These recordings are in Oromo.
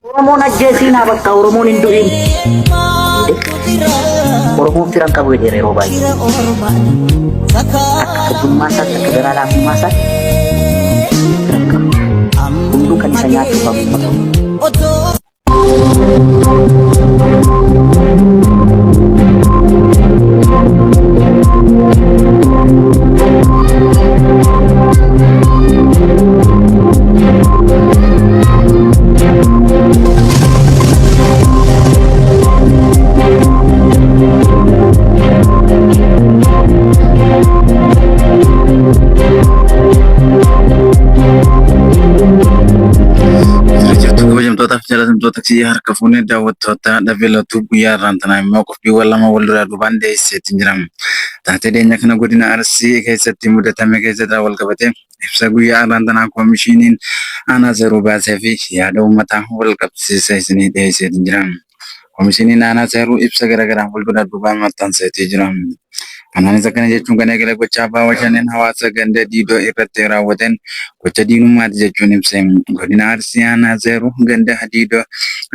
Oromoon ajjeesiin haa bakka Oromoon hin du'in. Oromoon fira hin qabu jedheera yeroo baay'ee. Akka addummaa isaatti akka garaa laafummaa isaatti fira hin qabu. Hunduu kan isa nyaatu qabu. Jirtu kabajamtootaaf jaallatamtoota fi harka fuunee daawwattoota dhabee latuu guyyaa irraan tanaa immoo qophiiwwan lama wal duraa duubaan dhiyeesseetti jira. Taatee dhiyeenya kana godina Arsii keessatti mudatame keessatti wal qabatee Ibsa guyyaa har'aan tanaa koomishiniin aanaa seeruu baasee fi yaada uummataa wal qabsiisee isinii dhiyeesseetiin jira. Koomishiniin aanaa seeruu ibsa garaagaraa wal duraa duubaan maxxanseetii jira. Kanaanis akkana jechuun kan eegale gocha abbaa washaneen hawaasa ganda diidoo irratti raawwateen gocha diinummaati jechuun ibse. Godina Arsii aanaa seeruu ganda diidoo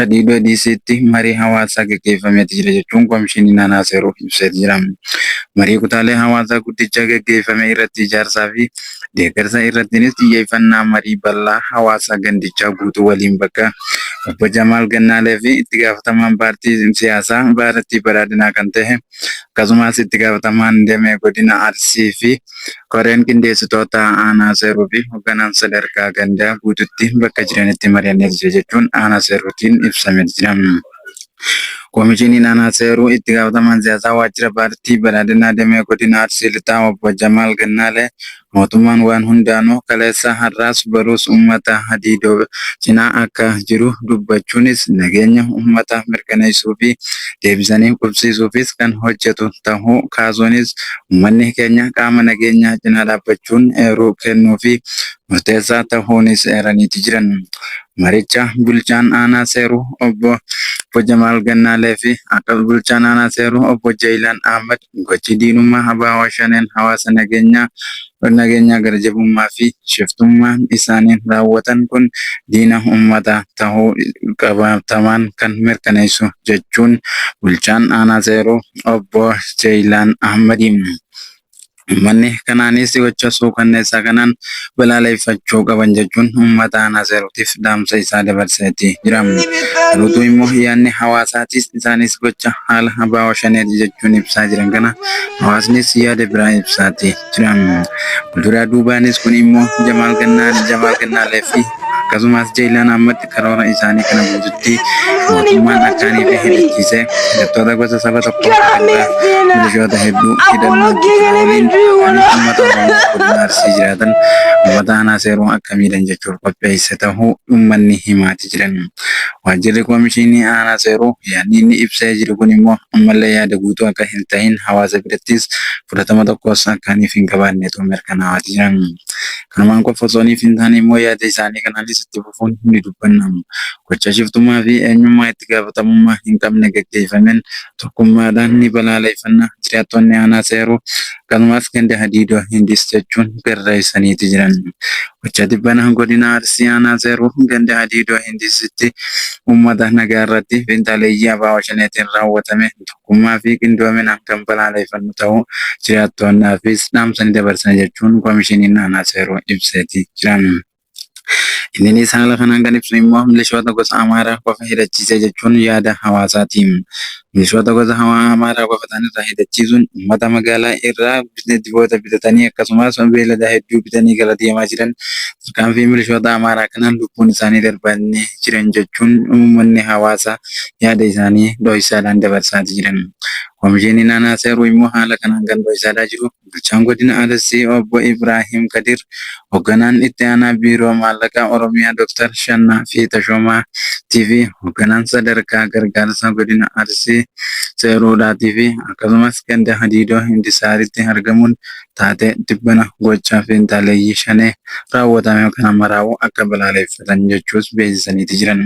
diidoo diisiitti marii hawaasaa gaggeeffameeti jira jechuun koomishiniin aanaa seeruu ibseeti jira. Marii kutaalee hawaasaa guddichaa gaggeeffame irratti ijaarsaa fi deeggarsa irrattiinis xiyyeeffannaa marii bal'aa hawaasaa gandichaa guutuu waliin bakka Obbo Jamaal Gannaalee fi itti gaafatamaan paartii siyaasaa Baarattii Baraadinaa kan ta'e akkasumas itti gaafatamaan damee godina Arsii fi koreen qindeessitoota aanaa seeruu fi hogganaan sadarkaa gandaa guututti bakka jiranitti mari'anneerra jechuun aanaa seeruutiin ibsamee jira. Komishiniin Aanaa Seeruu Itti Gaafatamaan Siyaasaa Waajjira Paartii Badhaadhinaa Damee Godina Arsii Lixaa Obbo Jamaal Gannaalee, mootummaan waan hundaanuu kaleessa, har'aas, boruus uummata Hadiidoo cinaa akka jiru dubbachuunis, nageenya uummataa mirkaneessuu fi deebisanii qubsiisuufis kan hojjetu tahuu kaasuunis, uummanni keenya qaama nageenyaa cinaa dhaabbachuun eeruu kennuufii murteessaa tahuunis eeraniiti jiran. Maricha Bulchaan Aanaa Seeruu Obbo Obbo Jamaal Gannaalee fi Akka Bulchaan Aanaa Seeruu Obbo Jayilaan Ahmad gochi diinummaa abo Shaneen hawaasa nageenyaa nageenyaa gara jabummaa fi shiftummaan isaaniin raawwatan kun diina ummataa tahuu qabatamaan kan mirkaneessu jechuun Bulchaan Aanaa Seeruu Obbo Jayilaan Ahmad Uummanni kanaanis gocha suukanneessaa kanaan balaaleffachuu qaban jechuun uummata aanaa Seeruutiif dhaamsa isaa dabarseeti jira. Garuutuu immoo yaadni hawaasaatis isaanis gocha haala Abaawoo Shaneeti jechuun ibsaa jiran kana hawaasnis yaada biraa ibsaati jira. Walduraa duubaanis kun immoo Jamaal Gannaa, Jamaal Gannaaleefi akkasumas Jeylaan Ahmad karoora isaanii kana guututti mootummaan akka ni fi hidhachiise hidhattoota gosa saba tokko irraa milishoota hedduu hidhannoo waliin kan uummata Oromoo godina Arsii jiraatan uummata aanaa seeruu akka miidhan jechuun qopheesse tahuu uummanni himaati jiran. Waajjirri Koomishiinii aanaa seeruu yaadni inni ibsee jiru kun immoo ammallee yaada guutuu akka hin tahin hawaasa birattis fudhatama tokkos akka ni fi hin qabaannetu mirkanaawaati jiran. Kanumaan qofa osoo niif hin taane immoo yaada isaanii kanaanis itti fufuun ni dubbanna. Gocha shiftummaa fi eenyummaa itti gaafatamummaa hin qabne gaggeeffameen tokkummaadhaan ni balaaleeffanna Jiraattoonni Aanaa Seeruu akkasumas Ganda Hadiidoo Hindiis jechuun barreessaniiti jiran. Gocha tibbana Godina Arsii Aanaa Seeruu Ganda Hadiidoo Hindiisitti uummata nagaa irratti finxaaleeyyii abo Shaneetiin raawwatame tokkummaa. tokkummaa fi qindoominaan kan balaaleeffannu ta'uu jiraattoonnaafis dhaamsa ni dabarsina jechuun Komishiniin Aanaa Seeruu ibseeti jira. Inninis haala kanaan kan ibsu immoo milishoota gosa Amaaraa qofa hidhachiisee jechuun yaada hawaasaati. Milishoota gosa Amaaraa qofa ta'an irraa hidhachiisuun uummata magaalaa irraa diboota bitatanii akkasumas beeylada hedduu bitanii gara deemaa jiran Tarkaanfii milishoota Amaaraa kanaan lubbuun isaanii darbanii jiran jechuun uummanni hawaasa yaada isaanii dhohisaadhaan dabarsaati jiran. Komishiiniin Aanaa Seeruu immoo haala kanaan kan dhohisaadaa jiru Bulchaan Godina Arsii Obbo Ibraahim Kadiir, Hogganaan Itti Aanaa Biiroo Maallaqaa Oromiyaa Dr. Shannaa fi Tashoomaa tiifi Hogganaan Sadarkaa Gargaarsaa Godina Arsii Seeruudhaatiifi akkasumas Ganda Hadiidoo Hindisaaritti argamuun taatee tibbana gochaa fiinxaaleeyyii shanee raawwatame kana maraa'uu akka balaaleeffatan jechuus beeksisaniiti jiran.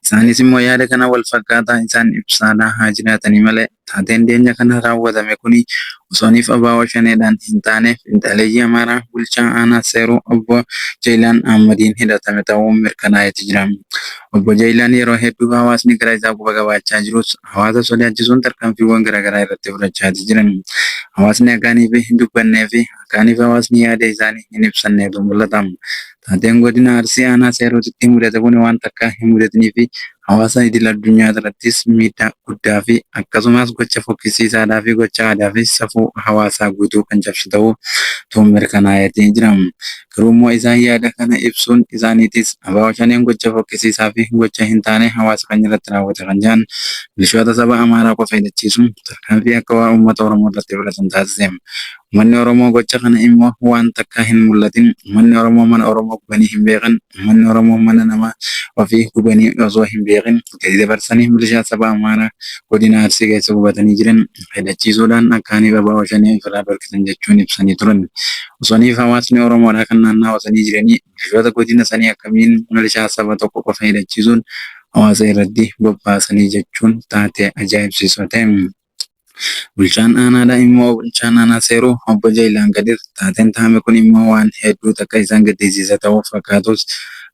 Isaanis immoo yaada kana wal fakkaataa isaan ibsaadhaa haa jiraatanii malee taateen deenya kana raawwatame kuni osooniif abaawoo shaneedhaan hin taane fiinxaaleeyyii Amaaraa bulchaa aanaa Seeruu obbo Jayilaan Ahmadiin hidhatame ta'uu mirkanaa'eeti jira. Obbo Jayilaan yeroo hedduu hawaasni gara isaa quba qabaachaa jirus hawaasa sodaachisuun tarkaanfiiwwan garaagaraa irratti fudhachaati jiran. Hawaasni akkaan ife hin dubbannee fi akkaan ife hawaasni yaada isaanii hin ibsanneetu mul'ata. Taateen godina Arsii aanaa Seerootitti mudate kun waan takkaa hin mudatnii fi hawaasa idil addunyaa irrattis miidhaa guddaa fi akkasumas gocha fokkisiisaadhaa fi gocha aadaa fi safuu hawaasaa guutuu kan cabsu ta'uu tuun mirkanaa'eeti jira. Garuummoo isaan yaada kana ibsuun isaaniitis abo Shaneen gocha fokkisiisaa fi gocha hin taane hawaasa keenya irratti raawwate kan jedhan milishoota saba Amaaraa qofa hidhachiisuun tarkaanfii akka waa uummata Oromoo irratti fudhatan taasise. Uummanni Oromoo gocha kana immoo waan takkaa hin mul'atin, uummanni Oromoo mana Oromoo gubanii hin beekan, uummanni Oromoo mana nama ofii gubanii osoo hin beekin, murtee dabarsanii milishaa saba Amaaraa godina Arsii keessa qubatanii jiran hidhachiisuudhaan akka Aniif Abaa'oo Shanee ofirraa dhorkitan jechuun ibsanii turan. Osoo Aniif hawaasni Oromoodhaa kan naannawa sanii jiranii milishoota godina sanii akkamiin milishaa saba tokko qofa hidhachiisuun hawaasa irratti bobbaasanii jechuun taatee ajaa'ibsiisoo ta'e. Bulchaan aanaadhaa immoo bulchaan aanaa Seeruu obbo Jayilaan Kadir taateen tahame kun immoo waan hedduu takka isaan gaddisiisa tahuuf fakkaatus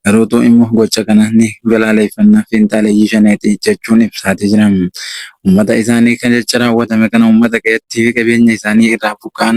garuutuu immoo gocha kana ni balaaleeffanna finxaaleyyii shaneeti jechuun ibsaati jira. Ummata isaanii kan jecha raawwatame kana ummata qe'eettii fi qabeenya isaanii irraa buqqa'an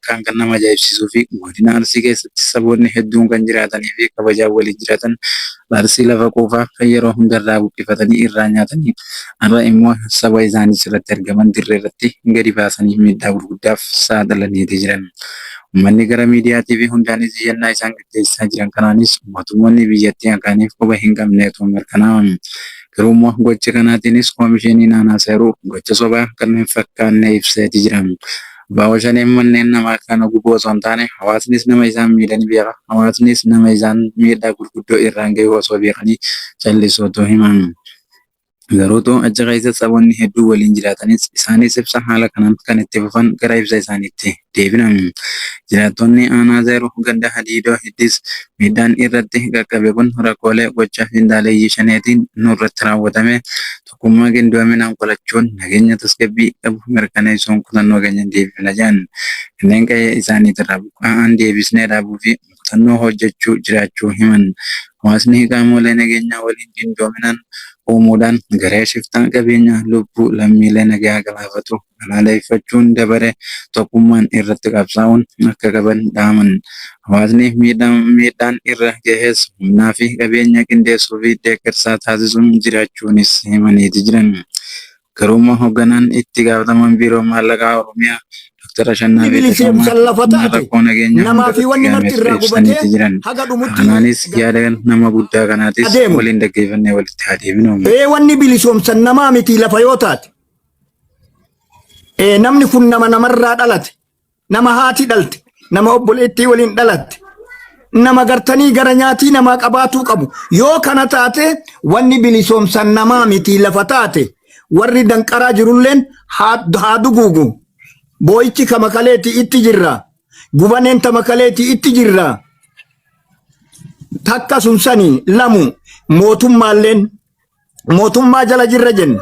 Akkaan kan nama ajaa'ibsiisuufi Godina Arsii keessatti saboonni hedduun kan jiraataniifi kabajaan waliin jiraatan Arsii lafa quufaa kan yeroo hunda irraa buqqifatanii irraa nyaatanii har'a immoo saba isaanii jalatti argaman dirree irratti gadi baasanii miidhaa gurguddaaf saaxilaniiti jiran. Ummanni gara miidiyaatiifi hundaanis iyyannaa isaan gaggeessaa jiran kanaanis mootummoonni biyyattii akaaniif quba hin qabneetu mirkanaa'a. Garuu immoo gocha kanaatiinis Komisheeniin Aanaa Seeruu gocha sobaa kan hin fakkaanne ibseeti jira. Abo Shaneen manneen namaa kana gubuu osoo hin taane hawaasnis nama isaan miidhe ni beeka, hawaasnis nama isaan miidhaa gurguddoo irraan gahuu osoo beekanii callisuutu himan. Garuutu achi keessa saboonni hedduun waliin jiraatanis isaanis ibsa haala kanaan kan itti fufan gara ibsa isaaniitti deebina. Jiraattonni aanaa Zeeruu ganda Hadiidoo Hiddis miidhaan irratti qaqqabe kun rakkoolee gocha finxaaleyyii Shaneetiin nurratti raawwatame, Tokkummaa qindoominaan qolachuun nageenya tasgabbii qabu mirkaneessuun kutannoo keenya ni deebifna jedhan. Kanneen qe'ee isaaniitirraa buqqa'an deebisnee dhaabuufi kutannoo hojjechuu jiraachuu himan. Hawaasni qaamolee nageenyaa waliin qindoominaan uumuudhaan garee shiftaa qabeenya lubbuu lammiilee nagaa galaafatu balaaleffachuun dabaree tokkummaan irratti qabsaa'uun akka qaban dhaaman. Hawaasni miidhaan irra gahes humnaa fi qabeenya qindeessuu fi deeggarsaa taasisuun jiraachuunis himaniiti jiran. Garuummoo hogganaan itti gaafatamaan Biiroo Maallaqaa Oromiyaa Dr. Ashannaafii Tasammaa rakkoo nageenyaa hundarratti gahames ibsaniiti jiran. Kanaanis yaada nama guddaa kanaatis waliin dhaggeeffannee walitti haa deebinu. Wanni bilisoomsan namaa miti lafa yoo taate. Eh, namni kun nama namarraa dhalate nama haati dhalte nama obboleettii waliin dhalatte nama gartanii gara nyaatii namaa qabaatuu qabu yoo kana taate wanni bilisoomsan namaa miti lafa taate warri danqaraa jirulleen haa haa duguugu boo'ichi ka makaleeti itti jirra gubaneen ta makaleeti itti jirra takka sun sani lamu mootummaalleen mootummaa jala jirra jenna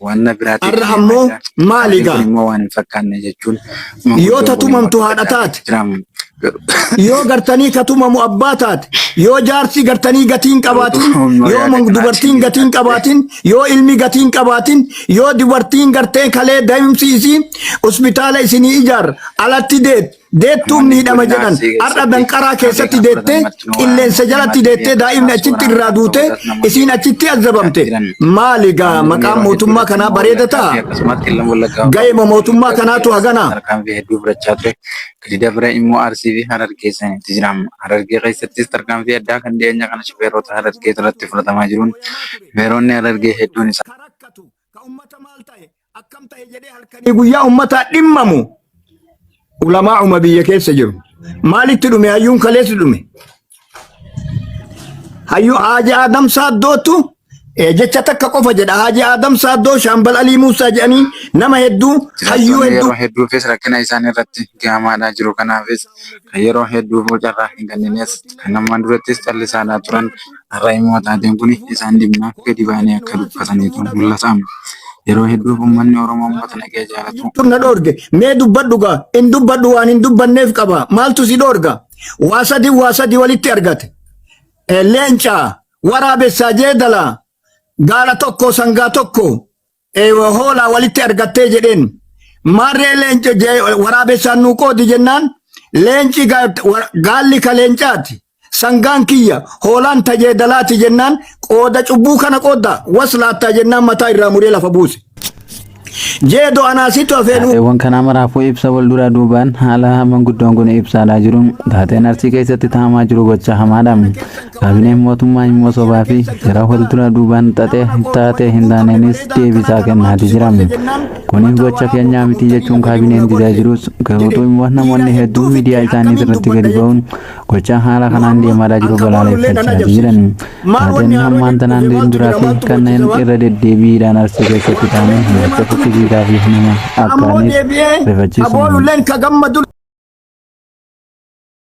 Wanna biraatiif Har'a deemaa ammoo jira. maali Qaaliin kun gaa? immoo waan hin fakkaanne jechuun Yoo manguddoon kun immoo tatumamtu haadha dubbataa taate, jira. yoo gartanii katumamu abbaa taate, yoo jaarsi gartanii gatii hin qabaatin, Garuu humna yoo yaada mang- kanaatiin dubartiin gatii hin yaadde. qabaatin, yoo ilmi gatii hin qabaatin, yoo dubartiin gartee kalee daa'imsi isii hospitaala isinii ijaarra alatti deet Deettuun miidhama jedhan har'a danqaraa keessatti deettee qilleensa jalatti deettee daa'imni achitti irraa duute isiin achitti azzabamte maali gaa maqaan mootummaa kanaa bareeda ta'a ga'eema mootummaa kanaatu haganaa. Tarkaanfii hedduu fudhachaa ture. Gadi dabra immoo Arsii fi Harargee sanitti jiraama. Harargee keessattis tarkaanfii addaa kan dhiyeenya kana shufeerota Harargee irratti fudhatamaa jiruun shufeeronni Harargee hedduun isaa. ka ummata maal ta'e akkam ta'e jedhee halkanii guyyaa ummataa dhimmamu ulamaa uma biyya keessa jiru. Maalitti dhume hayyuun kaleessi dhume? Hayyuu Haaji Aadam Saaddootu eh, jecha takka qofa jedha. Haaji Aadam Saaddoo Shaambal Alii Muusaa jedhanii nama hedduu hayyuu Jiraattonni hedduu yeroo hedduufis rakkina isaan irratti gahamaadhaa jiru kanaafis kan yeroo hedduuf carraa hin kenninees kan ammaan durattis callisaadhaa turan Har'a immoo taateen kun isaan dhimmaaf gadi ba'anii akka dubbataniitu mul'ata. Yeroo hedduu uummanni Oromoo uummata nagaya jaalatu. Maaltu na dhoorge? Mee dubbadhu gaa. Hin dubbadhu waan hin dubbanneef qaba. Maaltu si dhoorga? Waa sadi waa sadi walitti argate. Eh, Leenca, waraabessaa, jeedala, gaala tokko, sangaa tokko, eh, hoolaa walitti argattee jedheen maarree leenca jee- waraabessaan nuu qoodi jennaan leenci ga- wa- gaalli ka leencaati sangaan kiyya hoolaan tajeedalaati jennaan qooda cubbuu kana qoodda was laattaa jennaan mataa irraa muree lafa buuse jeedo anaasitu afeenuu Taateewwan kanaa maraafuu ibsa wal duraa duubaan haala manguddoon kun ibsaadaa jiru. Taateen arsii keessatti taamaa jiru gocha hamaadha. Kaabineen mootummaa immoo sobaa fi shira fuuldura duubaan xaxee taatee hin taaneenis deebisaa kennaati jira. Kunis gocha keenyaa miti jechuun kaabineen didaa jirus garuutu immoo namoonni hedduun miidiyaa isaanii irratti gadi ba'uun gocha haala kanaan deemaa jiru balaaleffachaa jiran. Taateen hammaan tanaan duraa fi kanneen irra deddeebiidhaan arsii keessatti taane gocha fokkisiisaa fi nama akkaaniif rifachiisu.